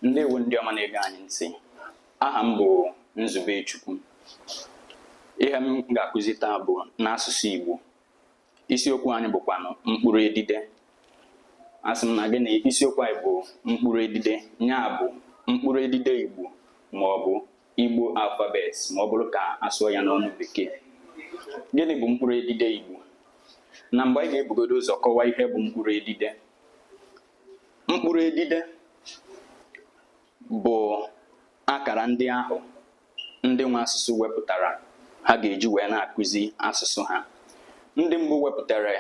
ndewo ndị ọma na-ege anyị ntị aha m bụ Nzubechukwu ihe m ga-akụzi taa bụ n'asụsụ Igbo isiokwu anyị bụkwanụ mkpụrụ edide asị m na gị na isiokwu anyị bụ mkpụrụ edide ya bụ mkpụrụ edide Igbo ma ọ bụ Igbo alphabet ma ọ bụrụ ka a sụọ ya n'ọnụ bekee gịnị bụ mkpụrụ edide Igbo na mbụ anyị ga-ebugodo ụzọ kọwaa ihe bụ mkpụrụ edide mkpụrụ edide bụ akara ndị ahụ ndị nwe asụsụ wepụtara ha ga-eji wee na-akụzi asụsụ ha ndị mbụ wepụtara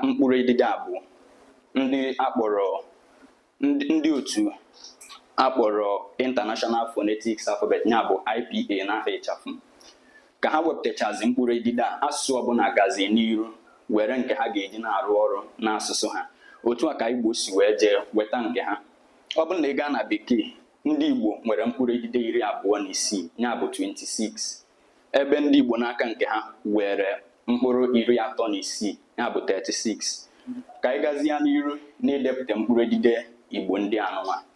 mkpụrụ edide a bụ ndị a kpọrọ ndị otu a kpọrọ International Phonetics Alphabet ya bụ IPA n'aha ịchafụ ka ha wepụtachazi mkpụrụ edide a asụsụ ọbụla gazi n'iru were nke ha ga-eji na-arụ ọrụ n'asụsụ ha otu a ka Igbo si wee jee weta nke ha ọ bụrụ na ị gaa na bekee ndị Igbo nwere mkpụrụ edide iri abụọ na isii ya bụ 26 ebe ndị Igbo n'aka nke ha were mkpụrụ iri atọ na isii ya bụ 36 ka anyị gazie n'iru n'idepụta mkpụrụ edide Igbo ndị anụnwa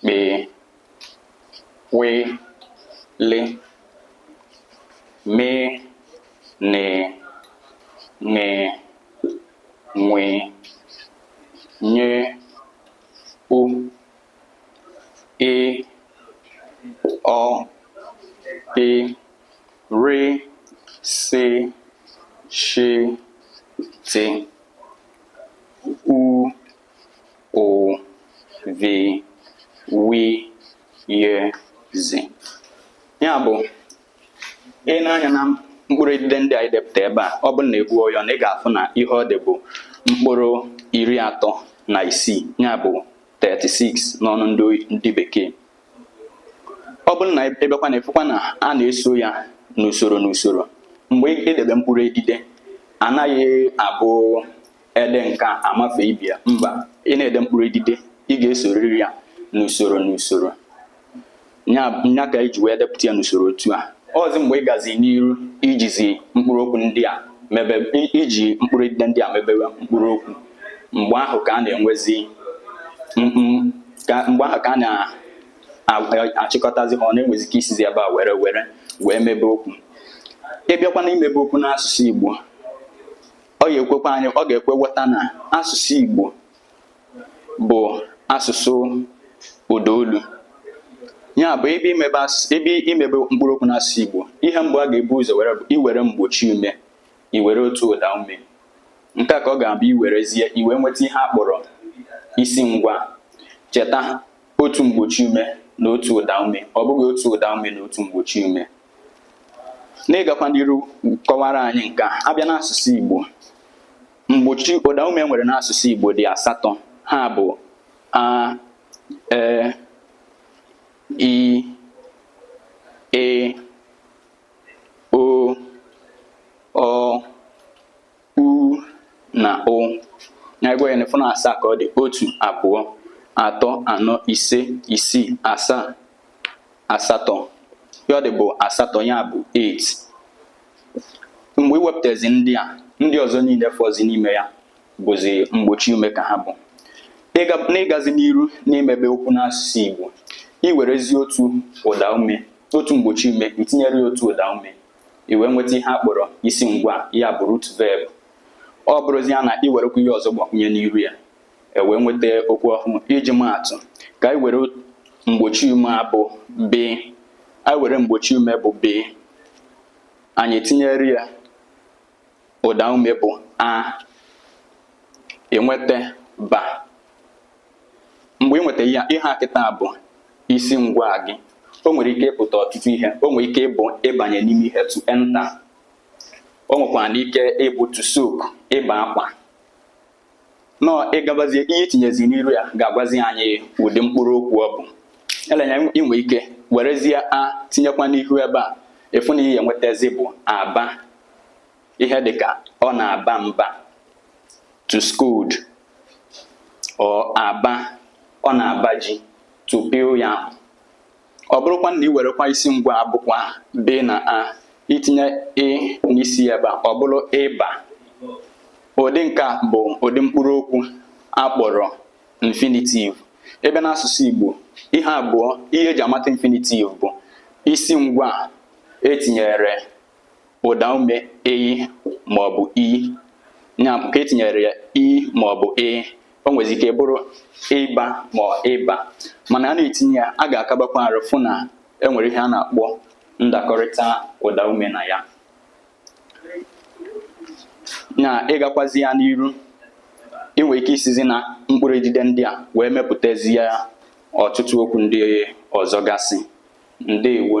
kpee we le me ne ṅe ṅwe nye u e ọ pe re se she te u. o vi wi ye zi ya bụ i nee anya na mkpụrụ edide ndị anyị depụta ebe a ọ bụrụ na a gụọ ya na ị ga-afụ na ihe ọ dị bụ mkpụrụ iri atọ na isii ya bụ 36 n'ọnụ ndị bekee ọ bụrụ na i nebekwa anya ị fụkwa na a na-eso ya n'usoro n'usoro mgbe i debe mkpụrụ edide anaghị abụ ede nke a amafe ebe a mba ị na-ede mkpụrụ edide ị ga-esoriri ya n'usoro n'usoro nya ka e ji wee depụta ya n'usoro otu a ọ bụzi mgbe ị gazi n'iru ijizi mkpụrụ okwu ndị a mebe iji mkpụrụ edide ndị a mebebe mkpụrụ okwu mgbe ahụ ka a na-enwezi mgbe ahụ ka a na-achịkọtazi ha ọnụ enwezi ike isizi ebe a were were wee mebe okwu ị bịakwa na imebe okwu n'asụsụ Igbo ọ ga-ekwekwa anyị ọ ga-ekwe nghọta na asụsụ Igbo bụ asụsụ ụda olu ya bụ ebe imebe ebe imebe mkpụrụ okwu n'asụsụ Igbo ihe mbụ a ga-ebu ụzọ were bụ iwere mgbochi ume iwere otu ụda ume nke a ka ọ ga-abụ i werezie i wee nweta ihe a kpọrọ isi ngwaa cheta otu mgbochi ume na otu ụda ume ọ bụghị otu ụda ume na otu mgbochi ume n'ịgakwa n'iru kọwara anyị nke a a bịa n'asụsụ Igbo mgbochi ụda ume e nwere n'asụsụ Igbo dị asatọ ha bụ a e i ị o ọ u na o na ị gụọ ya ọnụ ị fụ na asaa ka ọ dị otu abụọ atọ anọ ise isii asaa asatọ ihe ọ dị bụ asatọ ya bụ 8 mgbe i wepụtazi ndị a ndị ọzọ niile fọzi n'ime ya bụzi mgbochi ume ka ha bụ n'ịgazi n'iru n'imebe okwu n'asụsụ Igbo i werezi otu ụda ume otu mgbochi ume i tinyere ya otu ụda ume i wee nweta ihe a kpọrọ isi ngwa ya bụ root verb ọ bụrụzi ya na i werekwa ihe ọzọ gbakwunye n'iru ya e wee nweta okwu ọhụrụ iji maatụ ka anyị were mgbochi ume a bụ b anyị were mgbochi ume bụ b anyị tinyere ya ụda ume bụ a i nweta ba mgbe ị nweta ya ihe a kịta bụ isi ngwa gị o nwere ike ịpụta ọtụtụ ihe o nwere ike ịbụ ịbanye n'ime ihe to enter o nwekwara ike ịbụ to soak ịba akwa now ị gabazie ihe i tinyezi n'iru ya ga-agwazi anyị ụdị mkpụrụ okwu ọ bụ eleanya i nwe ike werezie a tinyekwa n'ihu ebe a ị fụ na ihe i nwetazi bụ aba ihe dị ka ọ na-aba mba to scold or aba ọ na-aba ji to peel yam ọ bụrụkwa na ị werekwa isi ngwa a bụkwa b na a i tinye ị n'isi ebe a ọ bụrụ ịba ụdị nke a bụ ụdị mkpụrụ okwu a kpọrọ infinitive ebe n'asụsụ Igbo ihe abụọ ihe e ji amata infinitive bụ isi ngwa e tinyere ụda ume ị ma ọ bụ i ya bụ ka e tinyere ya i ma ọ bụ ị o nwezi ike bụrụ ịba ma ọ ịba mana a na-etinye ya a ga-akabakwa arụ fụ na e nwere ihe a na-akpọ ndakọrịta ụda ume na ya na ịgakwazi ya n'iru ị nwere ike isizi na mkpụrụ edide ndị a wee mepụtazi ya ọtụtụ okwu ndị ọzọ gasị Ndewo.